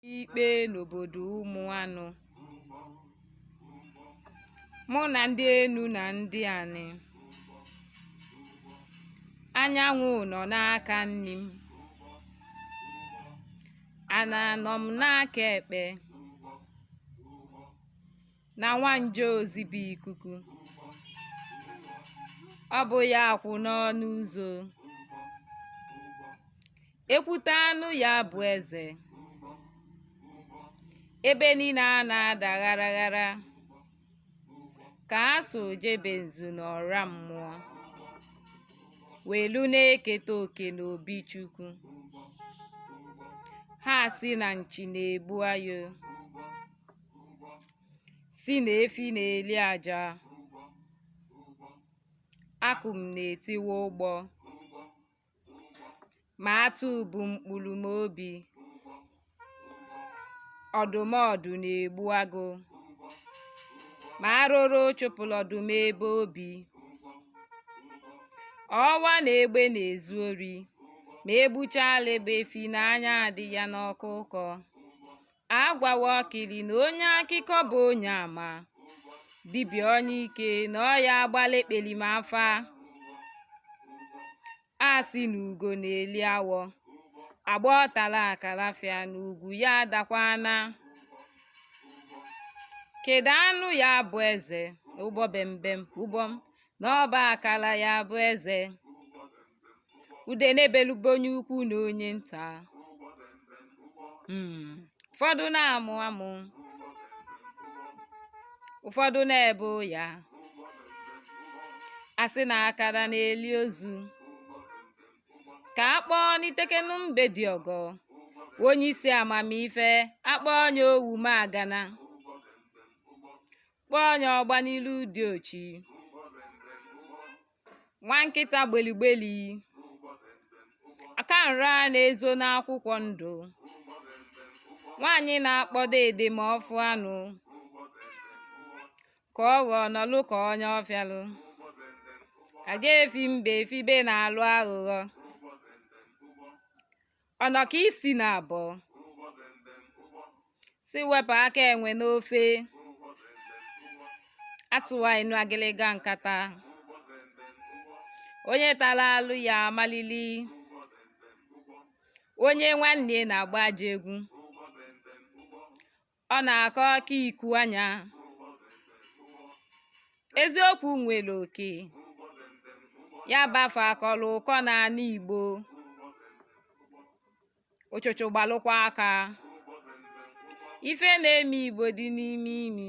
ikpe n'obodo Ụmụanụ mụ na ndị enu na ndị anị anyanwụ nọ n'aka nni m ana nọ m n'aka ekpe na nwanje ozi bụ ikuku ọ bụ ya kwụ n'ọnụ ụzọ Ekwute anụ ya bụ eze. Ebe niine ana-ada ghara ghara. Ka a so jebe nzu n'ọra mmụọ. Welu na-eketa oke n'obi Chukwu. Ha si na nchi na-egbu ayo. Si na efi na-eli aja. Akụm na-etiwa ụgbọ. Ma atụ bụ mkpulu m obi Ọdụm ọdụ na-egbu agụ Ma arụrụ chụpụlụ ọdụm ebe o bi Ọwa na egbe na-ezu ori Ma egbuchaalị egbe efi na anya adị ya n'ọkụkọ agwawa ọkịlị na onye akịkọ bụ onye ama dibịa onye ike na ọya agbalụ ekpelima afa a sị na ugo na-eli awọ agba ọtala akarafịa na ugwu ya adakwana kedu anụ ya bụ eze ụgbọ bembem ụgbọm na ọba akara ya bụ eze ude na-ebelugbo onye ukwu na onye nta Mm. ụfọdụ na-amụ amụ ụfọdụ na-ebe ụya asị na akara na-eli ozu ka a kpọọ n'itekenu mbe dị ọgọ onye isi amamife akpọọ onye ogwumagana kpọọ onye ọgba n'ilu diochi nwa nkịta gbeligbeli aka nra na-ezo n'akwụkwọ ndụ nwaanyị na-akpọdo ede ma ọfụ anụ ka ọ ghọọ nọlụ ka onye ọfịalụ aga efi mbe efibe na-alụ aghụghọ ọnọka isi naabọ si wepụ aka enwe n'ofe atụwa inu agịlịga nkata onye talụ arụ ya amalili onye nwanne na-agba ajọ egwu Ọ na-akọ aka iku anya. Eziokwu nwere oke. Ya bafa akọrọ ụkọ n'ala Igbo. Ụchụchụ gbalụkwa aka. Ife na-eme Igbo dị n'ime imi.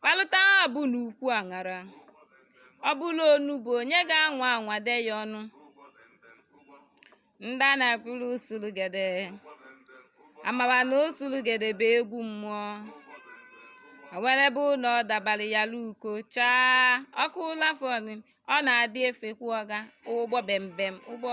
Kpalụta abụ n'ukwu aṅara. Ọ bụla onugbu onye ga-anwa anwa de ya ọnụ. Ndị a na-akụrụ usulugede. Amara na usulugede bụ egwu mmụọ. O nwere ebe ụnọ dabara ya luko chaa ọkụ lafọn ọ na-adị efekwu ọga ụgbọ bembem ụgbọ